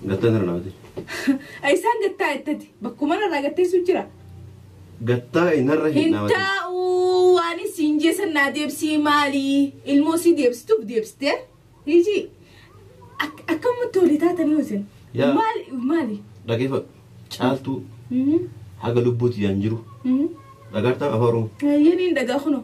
Gattee sana namatti. Isaan gattaa ittati. Bakkuma irraa gatteessu jira. Gattaa inarra hin Hin namatti. taa'uu waan isin jeesan naa deebsii maali? Ilmoo si deebstuuf deebstee? Hiji. Ak- Akkamitti olii taatanii hosin? Yaa. Maali? Maali? Dhageeffadhu. Caaltuu Mhm, haga lubbuutti yaan jiru. mhm. Dhagartaan afaan Oromoo. Yeniin dhagaa kuno.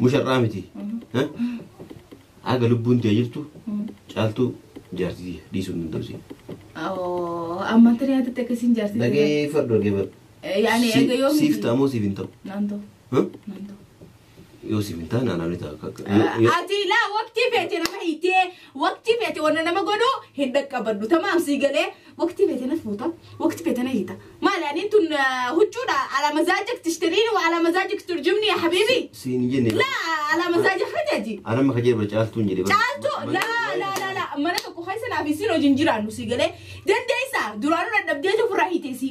Musharraa miti. Haga lubbuun tee jirtu caaltuu jaartii dhiisuu hin danda'u siin. Oo, amma tiri haatitti akkasiin jaartii. Dhageeffadhu dhageeffadhu. Yaani eega yoo Siif ta'a moo siif hin ta'u? Naantoo, Huh? naantoo. Yoo siif hin ta'a naannoo ni ta'a. Akka- akka- yoo- yoo- Ati laa waqtii feete nama hiitee waqtii feete wanna nama godhu hin dhaqqabadhu. Tamaam sii galee Waqtii feetenas fuuta, waqtii feetena hiita. Maali aniin tun huccuudha ala mazaajik tishtiriini wa ala mazaajik turjumni ya habiibi. Siin hin jenne. La ala mazaajik hajaji. Ana amma kajeela bara caaltuun jedhe. bara. Caaltu Ma- la ma- la la la mana tokko keessa naaf isin hojii hin jiraannu si galee dandeessa duraanuu dadhabdeetu ofirraa hiitee si.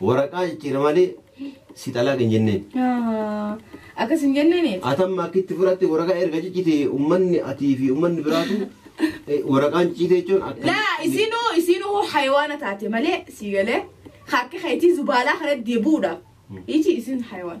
Waraqaa jijjiira malee si xalaaq hin jenneen. Ah, Akkas hin jenneen Atamma akka itti fudhatte waraqaa erga ciccite ummanni atii fi ummanni biraatu eh, waraqaan ciccite jechuun akka. laa isinuu isinuu hayawaana taate malee sii galee akka keetii zubaalaa kana deebuudha iji isin hayawaan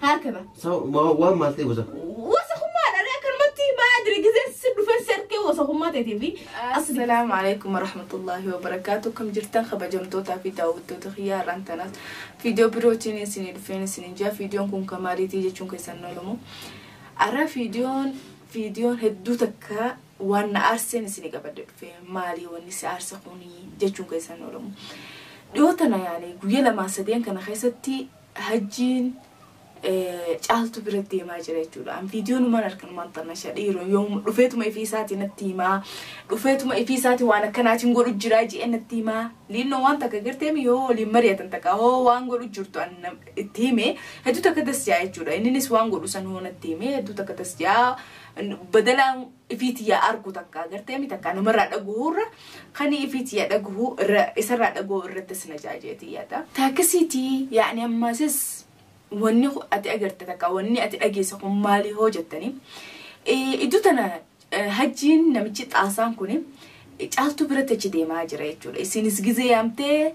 Harka ba. Sa wa wa mal te wasa. Wasa kuma da ne kan matti ma adri gize sin du fer ser ke wasa kuma te te bi. Assalamu alaikum warahmatullahi wabarakatuh. Kam jirtan kabajamtoota fi daawwattoota kiyyaa irraan tanas viidiyoo birootiin isinii dhufeen isiniin jaa viidiyoon kun kan maaliitii jechuun keessan oolamu. Arra viidiyoon viidiyoon hedduu takka waan na aarseen isinii qabadde dhufe maalii wanni si aarse kuni jechuun keessan oolamu. Dhiyoo tana yaani guyya lamaa sadeen kana keessatti Hajjiin caaltu bira deemaa jira jechuudha. An viidiyoo numaan arkan waan tamasha dhiiroon yoomuma dhufeetuma ifii isaati natti himaa. Dhufeetuma ifii isaati waan akkanaatiin godhu jiraa ji'ee natti himaa. Liinnoo waan takka garteemi yoo waliin mari'atan takka hoo waan godhu jirtu an nam- itti hime hedduu takka das ja'a jechuudha. Inninis waan godhu san hoo natti hime hedduu takka das ja'a. Badalaa ifiiti yaa argu takka agarteemi takka namarraa dhaguhuu irra kani ifiiti yaa dhaguhuu irra isarraa dhaguhuu irratti sin ajaajeeti yaada. Taakkisiiti yaani ammaasis wanni ati agarte takka wanni ati dhageesse kun maali hoo jettani iddoo tana hajjiin namichi xaasaan kun caaltuu biratti achi deemaa jira jechuudha isinis gizee yaamtee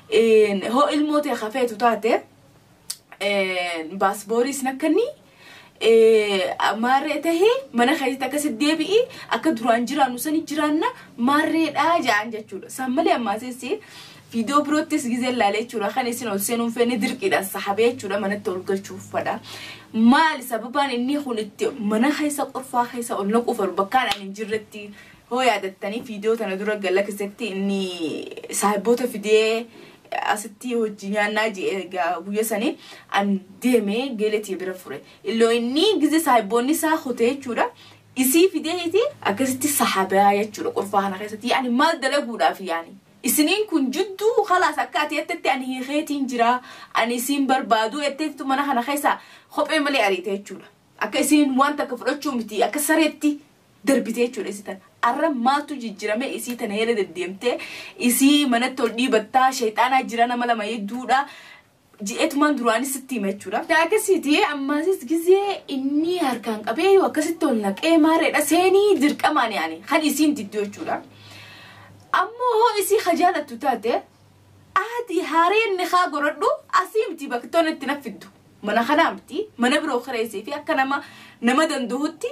Een, hoo ilmoo tee ka feetu taate een, baasboorii isin akkanni maarree tahee mana keessatti akkasitti deebi'i akka duraan jiraannu sani jiraanna maarreedhaa ja'an jechuudha san malee ammaasessi viidiyoo biroottis gizeen laalee jechuudha kan isin ol seenuun feene dirqiidhaan sahabee jechuudha manatti ol galchuuf fadha maali sababaan inni kun itti mana keessa qorfaa keessa ol naquuf ol bakkaan ani hin jirretti Hoo yaadattanii video tana dura galakisetti inni saahiboota fidee asitti hojji nyaannaa je'e egaa guyya sanii an deeme geele tiya bira fure illoo inni gize saahiboonni isaa kute jechuudha isii fideeti akkasitti sahabaa jechuudha qurfaa kana keessatti yaani maal dalaguudhaaf yaani isiniin kun jidduu kalaas akka ati jettetti ani hiikeetiin jira ani isiin barbaadu jetteetitu mana kana keessa kophee malee ariite jechuudha akka isiin waan takka fudhachuu miti akka sareetti darbite jechuudha isii tana. Arra maaltu jijjirame isii tana heeda deddeemtee isii manatti ol dhiibattaa sheexaanaa jira nama lama hedduudha je'etumaan duraanis sitti hima jechuudha. Akkasiiti ammaasis gizee inni harkaan qabee yoo akkasitti ol naqee maareedha seenii dirqamaan yaani kan isiin diddu jechuudha. Ammoo hoo isii ka jaalattu taate aadii haareen ni haa godhadhu asii miti bakka tola itti nafiddu. Mana kanaa miti mana biroo kireessee fi akka nama nama danda'utti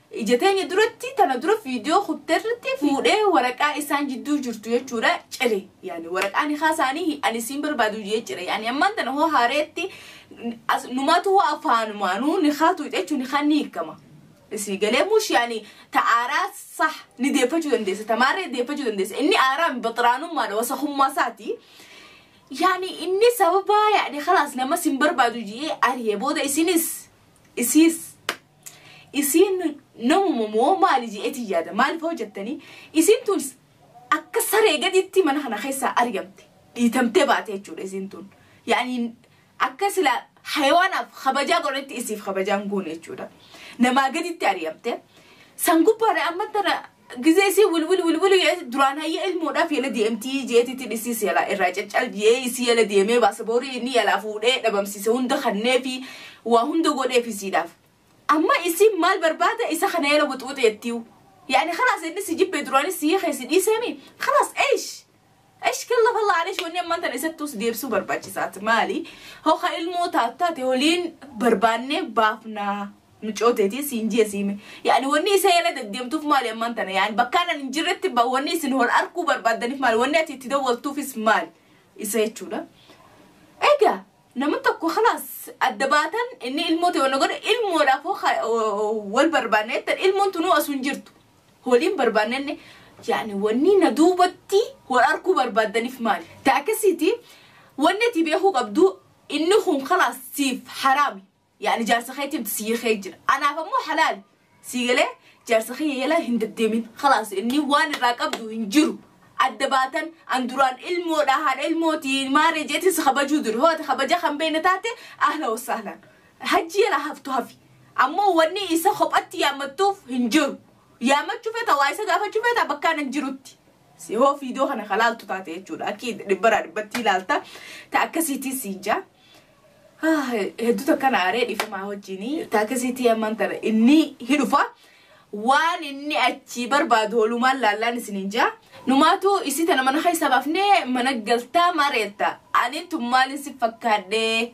Ija teenya duratti tana dura viidiyoo kutterratti fuudhee waraqaa isaan jidduu jirtu jechuudha cire yaani waraqaa nikaa isaanii ani isiin barbaadu jee cire yaani ammaan tana hoo haareetti as- numaatu hoo afaanumaanuu nikaa tuuta jechuun nikaan ni hiikama isii galee mush yaani ta aaraa sah ni deeffachuu dandeessa ta maarree deeffachuu dandeessa inni aaraa baxiraanummaadha wasakummaa isaati yaani inni sababa yaani kalaas nama sin barbaadu jee ari'e booda isinis isiis Isiin namuma moo maali je'eetiin yaada. Maaliif hoo jettanii isiin tun akka saree gaditti mana kana keessaa ari'amte. Dhiitamtee baate jechuudha isiin tun. Yaani akka sila hayawaanaaf kabajaa godhetti isiif kabajaan goone jechuudha. Namaa gaditti ari'amte. San gubbaadha amma tana Gizee isii wilwil wilwil jedhee duraan hayyee ilmoodhaaf yala deemtii jeetiitti dhisiis yala irraa caccal jedhee isii yala deemee baasa boorii inni yalaa fuudhee dhabamsiise hunda kannee fi waa hunda godheef isiidhaaf. Amma isiin maal barbaada isa kana yala wuxwuxeettiiw. Yaani kalaas inni si jibbee duraanis si hiikee si dhiiseemi kalaas eish Esh kallaf Allah alesh wanni ammaan tana isatti us deebsuu barbaachisaat maali hoo ka ilmoo taatu taate waliin barbaannee baafnaa mucoo teetiin siin jee siime yaani wanni isa yala deddeemtuuf maali ammaan tana yaani bakkaan ani hin jirretti ba wanni isin hol arkuu barbaaddaniif maali wanni ati itti dawwaltuufis maali isa jechuudha. Egaa nama tokko kalaas adda baatan inni ilmoo ta'e wanna godhe ilmoodhaaf hoo ka- wal barbaanne jettan ilmoon tunuu asuu hin jirtu Waliin barbaannanne yaani wannii na duubatti wal arkuu barbaaddanif maali? Ta akkasiiti wanni ati beekuu qabdu inni kun kalaas siif haraami yaani jaarsa keetii miti sii kee jira anaaf ammoo halaali sii galee jaarsa kiyya yala hin daddeemin kalaas inni waan irraa qabdu hin jiru adda baatan an duraan ilmoodha haadha ilmooti maaree jeetiin si kabajuu duri hoo ati kabaja kan beekne taate ahla wasahlan Hajji yala haftu hafi. Ammoo wanni isa kophatti yaammattuuf hin jiru. Yaammachuu feeta waa isa gaafachuu feeta bakkaan hin jirutti. Si hoo fiidoo kana ka laaltu taate jechuudha. Akki dhibbaraa dhibbatti ilaalta. Ta akkasiitii siin jaa. Ah, hedduu takka na aaree dhifamaa wajjini. Ta akkasiitii ammaan tana inni hidhufa. Waan inni achii barbaadu holumaan laallaan isin hin jaa. Numaatu isii tana mana keessa baafnee mana galtaa mareetta. Ani tun maalin si fakkaadhee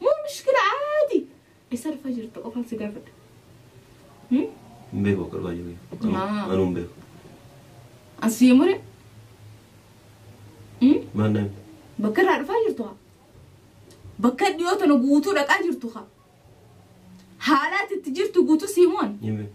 Moo mishkila aadi? Esa dhufa jirta qofan si gafadha. Hmm? Hin beeku akka dhufaa jiru. Maa. Anuu hin beeku. Asii mure. Hmm? Maal naan? Bakka irraa dhufaa jirtu haa. Bakka dhiyoo tana guutuu dhaqaa jirtu haa. Haalaati itti jirtu guutuu sii moon. Hin beeku.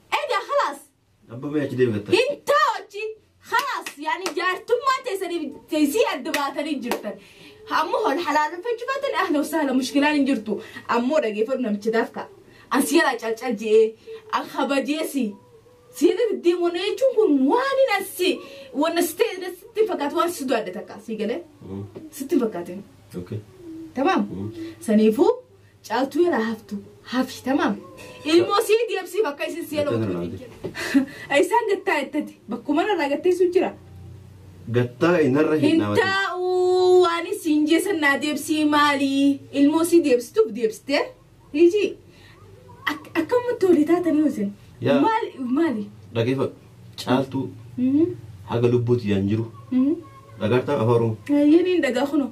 Egaa khalaas. Abba mee achi deemi gatta. Hin taa'u achi. Khalaas yaani jaartummaa teessaniif teessii adda baatanii jirtan. Ammoo hol halaaleffachuu baatan ahla wasaala mushkilaan hin jirtu. Ammoo dhageeffadhu namicha daafka. An si jalaa calcal je'ee. An kabajeesi. Si jalatti deemuun jechuun kun waan hin assi. Wanna si ta'e sitti fakkaatu waan si du'aadde takka. Si galee. Sitti hin fakkaatin. Okay. Tamam. Saniifuu. Caaltuu yaraa haftu hafi tamaam. Ilmoo sii deebsii bakka isin sii Gattee tana laaltee. elootu. Isaan gattaa ittati bakkuma irraa gatteessu jira. Gattaa inarra hin Hin dhaabatu. taa'uu waan isin jeesan naa deebsii maali ilmoo sii deebstuuf deebstee hiji Ak- akkamatti olii taatanii isin Yaa. maali maali. Dhageeffadhu. Caaltuu Mhm, haga lubbuuti yaan jiru. mhm. Dhagaartaa afaa Oromoo. Yeniin dhagaa kunoo.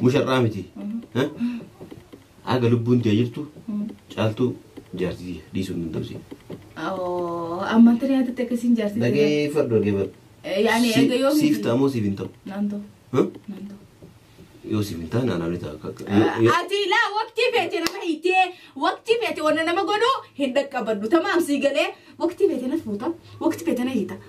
Musharraa miti. Haga lubbuun tee jirtu caaltuu jaartii dhiisuu hin danda'u siin. Amma tana yaadatte akkasiin jaartii. Dhagee fardoo dhagee fardoo. Yaani erga yoo Siif ta'a moo siif hin ta'u? Naantoo. Huh? Naantoo. Yoo siif hin ta'a naanaa ni ta'a. Akka- yoo- yoo- Ati laa waqtii feete nama hiitee waqtii feete wanna nama godhu hin dhaqqabadhu tamaam sii galee waqtii feete na fuuta waqtii feete na hiita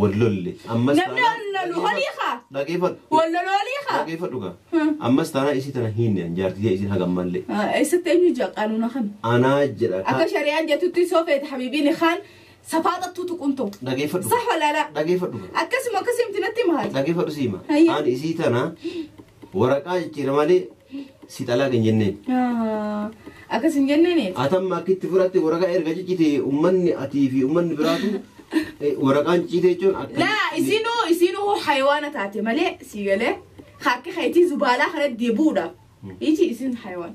wal lolle ammas Namni taanaan- wal lolu holii kaa? dhageeffadhu Wal lolu holii kaa? dhageeffadhu kaa Hmm. ammas taanaa isii tana hiinne an jaartitee isiin haga ammallee Ah, Eessatti eenyu jaa qaanuuna kana? anaa jedha Akka kaa shari'aan jettutti soo feete habiibiin kaan safaaxattuu tuquun ta'u. dhageeffadhu Sah walaalaa. dhageeffadhu kaa Akkasuma akkasii miti natti maati. dhageeffadhu siima Hayya. an isii tana Waraqaa jijjiira malee si xalaaq hin jenneen. Akkas hin jenneeniif. Atamma akka itti fudhatte waraqaa erga ciccite ummanni atii fi ummanni biraatu eh, waraqaan ciccite jechuun akka. Laa isinuu isinuu hoo hayawaana taate malee sii galee akka keetii zubaalaa kana deebuudha. Iji isin hayawaan.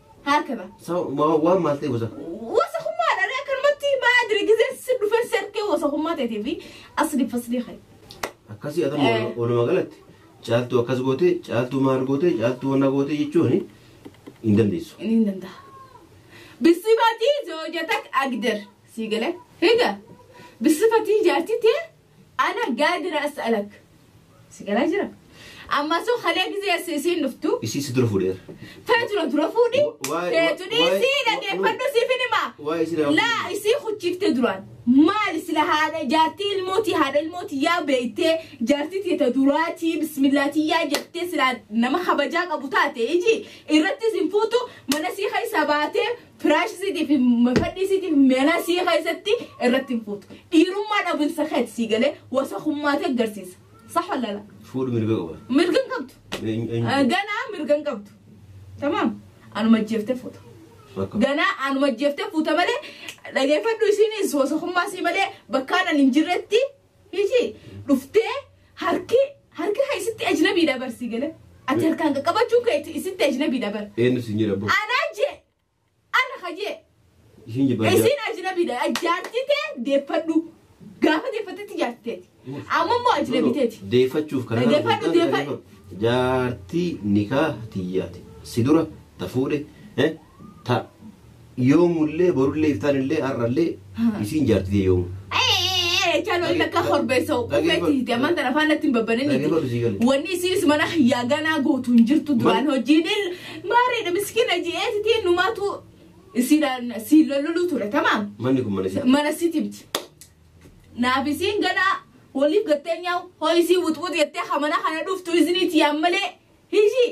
Haakaba. Sa wa- waan maal ta'e wasaka. Wasakummaa dha akkanumatti maa jira gizee si dhufee si argee wasakummaa ta'eetii fi asli fasli kee. Akkasii adamu Eh. walumaa galatti caaltuu akkas goote caaltuu maal goote caaltuu wanna goote jechuun hin dandeessu. Inni hin danda'a. Bisifatii zoojatak agder sii galee higa. Bisifatii jaartii tee Ana gaadira as'alak. Si galaa jira. Amma sun halee gizee assi isiin dhuftu. Isii si dura fuudheera. Feetuna dura fuudhi. Waa'ee- Feetuni waa'ee- isii dhageeffadhu siif hin himaa. Waa'ee isii dura Laa fuudhi. isii huchiifte duraan. Maali sila haadha jaartii ilmootii haadha ilmootii yaa beeytee jaartii teeta duraatii bismillaatii yaa jettee sila nama kabajaa qabu taate iji irrattis hin fuutu mana sii keessa baatee Firaash isiitiif fadhii isiitiif meelaa sii keessatti irratti hin fuutu. Dhiirummaa dhabinsa keeti sii galee wasakummaatee agarsiisa. Sax walala. Fuudhu mirga qaba. Mirga hin qabdu. Eenyu- eenyu- Ah, Ganaa mirga hin qabdu. Tamaam. Anuma jeeftee fuuta. Bakka. Ganaa anuma jeeftee fuuta malee dhageeffadhu isiinis wasakummaa sii malee bakkaan ani hin jirretti Hiji dhuftee harki harki kan isitti ajnabiidha bar si gale. Ati harkaan qaqqabachuun kee itti- isitti ajnabiidha bar. Eenyu siin jedha abboo? Anaa jee ana ka jee Isiin jibba. isiin ajnabiidha jaartii tee deeffadhu gaafa deeffattetti jaartii teeti amma immoo ajnabii teeti. Deeffachuuf kana Deeffadhu, deeffadhu. Jaartii nikaa tiyyaati. Si dura ta fuudhe. eh, Ta, yoomullee, borullee, iftaanillee, har'allee, isiin jaarti tee yoomu. Ee, caaloo inni akka horbeessa qubeeti jamaan tana faana ittiin babbanini. Dhaggeeffadhu sii galee. Wanni isiinis mana kiyyaa ganaa gootu hin jirtu duraan Mal- hojiin il maariidha miskiina ji'eetitiin numaatu isiidhaan siin lololuu ture tamaam. Manni kun mana si. Mana sitimti. Naaf isiin ganaa waliif gattee nyaa'u hoo isiin wuxwuxi jettee hamana kana dhuftu isiniiti yaan malee hishii.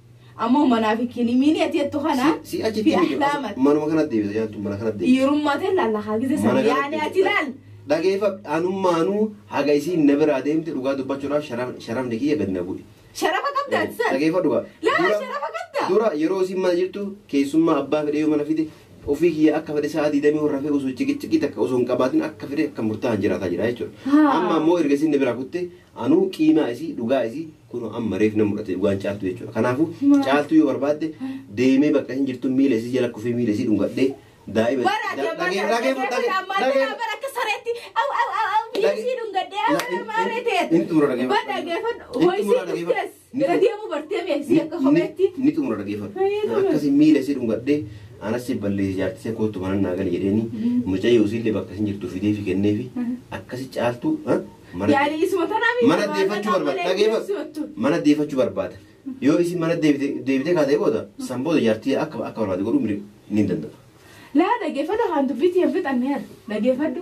Ammoo manaa fi kilimiinii ati jettu kana Si- si achitti fi miti- ahlaamat. manuma kanatti deebisa jaantu mana kanatti deebisa. Dhiirummaa ta'e laallaa haa gise Mana sana kanatti yaani ati deebisa. laal. Dhageeffa anummaanuu haga isiin na biraa deemte dhugaa dubbachuudhaaf sharaf- sharafni kiyya gad na bu'e. Sharafa qabda ati sana. Dhageeffa dhugaa. Laa Dura- sharafa qabda. Dura yeroo isiin mana jirtu keessummaa abbaa fedhe yoo mana fide ofii kiyya akka fedhe sa'a diidamii warra fee osoo ciqiciqii takka osoo hin qabaatin akka fedhe akka murtaa'an jiraataa jira jechuudha. Haa. Amma ammoo erga isiin na biraa kutte Anuu qiinaa isii dhugaa isii kunoo amma reef na mudhate dhugaan caaltuu jechuudha kanaafu caaltuu yoo barbaadde deemee bakka ishiin jirtu miila isii jala kufee miila isii dhungadhee daa'ima Bara da- dhagee- dhagee- dhagee- dhagee- dhagee- bara akka sareetti au au au au biyyee sii dhungadhee au Dhagee- nama arreeteet. hin xumura dhagee- Ba dhageeffadhu. Hin Hoo xumura isiin dhagee- dhuftees. Bira deemuu bartee mee si akka kopheetti. Ni xumura dhageeffadhu. Akkasi miila si dhungadhee anas si balleessi jaartii see koottu mana naa gali jedheeni mucayyoo usiillee bakka isin jirtu fidee fi kenneefi akkasi caaltuu mana Yaani isuma tanaa miidha. mana deeffachuu barbaada dhageeffadhu mana deeffachuu barbaada yoo isin mana deebitee kaatee booda san booda jaartii akka akka barbaade godhuu ni danda'a. Laa dhageeffadhu haan dubbiitti hin fixanne yaa dhageeffadhu.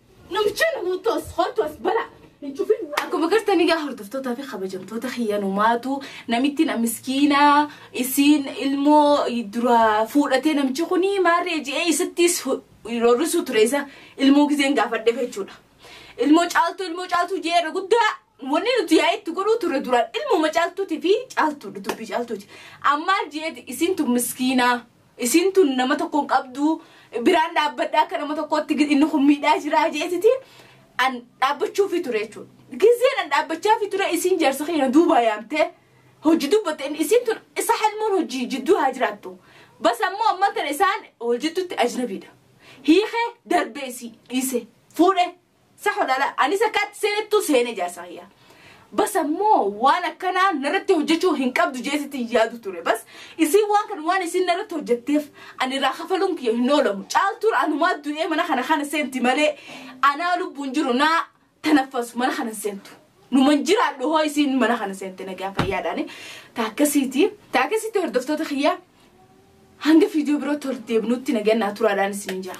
Namicha nu buuttu as kottu as bala. Hin cufin. Akkuma gartanii gaa hordoftootaa fi kabajamtoota kiyyanumaatu namitti na miskiina isiin ilmoo dura fuudhatee namichi kun maarree ji'ee isattis roorrisuu ture isa ilmoo gizeen gaafadheef jechuudha. Ilmoo caaltuu ilmoo caaltuu ji'ee irra guddaa wanni nuti yaa'ee itti godhuu ture duraan ilmooma caaltuuti fi caaltuudha dubbii caaltuuti. Ammaa ji'eeti isiintu miskiinaa Isiin tun nama tokko hin qabdu biraan dhaabbadha akka nama tokkootti gid- inni kun miidhaa jiraa jeetiti an dhaabbachuufi ture jechuudha. Gizeen an dhaabbachaafi ture isiin jaarsa keenya duubaa yaamtee hojii dubbatte inni isiin tun isa halmoon hojii jidduu haa jiraattu. Bas ammoo amman tana isaan wal jidduutti ajnabiidha. Hiikee darbee isii dhiise fuudhee. Sah walaala anis akka atti seenettu seene jaarsa kiyya. Bas ammoo waan akkanaa narratti hojjechuu hin qabdu jee sitti hin yaadu ture. Bas isiin waan kana waan isiin narratti hojjetteef ani irraa kafaluun kiyya hin oolamu. Caaltuun anumaa du'ee mana kana kana seenti malee anaa lubbuun jiru naa tanaffasu mana kana hin seentu. Numan jiraadhu hoo isiin mana kana seente nagaa fayyaadhaani. Ta akkasiiti. Ta akkasiiti hordoftoota kiyya hanga fiidiyoo biroo tordeebnutti nagaan naa turaadhaan isiniin jaa.